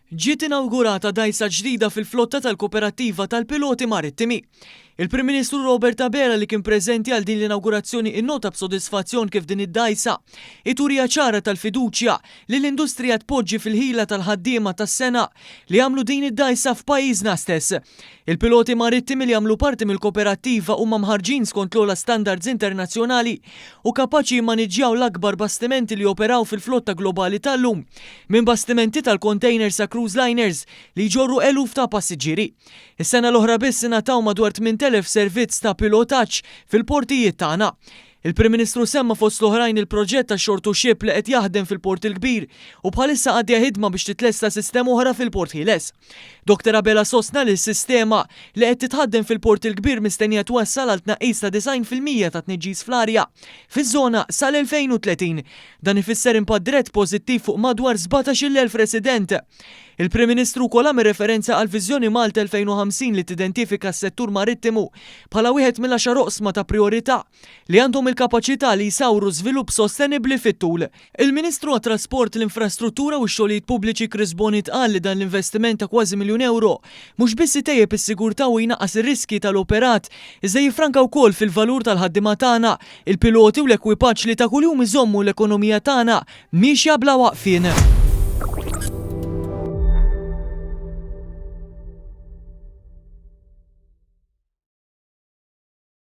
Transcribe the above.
Ġiet inawgurata dgħajsa ġdida fil-flotta tal-Koperattiva tal-Piloti Marittimi. Il-Prim Ministru Robert Abela li kien preżenti għal din l-inawgurazzjoni innota b'sodisfazzjon kif din id-dgħajsa hi turija ċara tal-fiduċja li l-industrija tpoġġi fil-ħila tal-ħaddiema tas-sengħa li għamlu din id-dgħajsa f'pajjiżna stess. Il-piloti marittimi li jagħmlu parti mill-koperattiva huma mħarrġin skont l-ogħla standards internazzjonali u kapaċi jimmaniġġjaw l-akbar bastimenti li joperaw fil-flotta globali tal-lum, minn bastimenti tal-kontejner sa cruise liners li jġorru eluf ta' passiġġieri. Is-sena l-oħra biss ingħataw madwar 8,000 servizz ta' pilotaġġ fil-portijiet tagħna. Il-Prim Ministru semma fost l-oħrajn il-proġett tax-shore to ship li qed jaħdem fil-Port il-Kbir u bħalissa għaddejja ħidma biex titlesta sistema oħra fil-Port Ħieles. Doktor Abela sostna li s-sistema, li qed titħaddem fil-Port il-Kbir mistennija twassal għal tnaqqis ta' 90 fil-mija tat-tniġġis fl-arja fiż-żona sal-2030. Dan ifisser impatt dirett pożittiv fuq madwar 17-il elf resident. Il-Prim Ministru wkoll għamel referenza għall-Viżjoni Malta 2050 li tidentifika s-settur marittimu bħala wieħed mill-għaxar oqsma ta' prijorità. li għandhom il-kapaċità li jsawru żvilupp sostenibbli fit-tul. Il-Ministru għat-Trasport, l-Infrastruttura u x-Xogħlijiet Pubbliċi Chris Bohnit qal li dan l-investiment ta' kważi miljun ewro mhux biss itejjeb is-sigurtà u jnaqqas ir-riskji tal-operat iżda jiffranka wkoll fil-valur tal-ħaddiema tagħna, il-piloti u l-ekwipaġġ li ta' kuljum iżommu l-ekonomija tagħna miexja bla waqfien.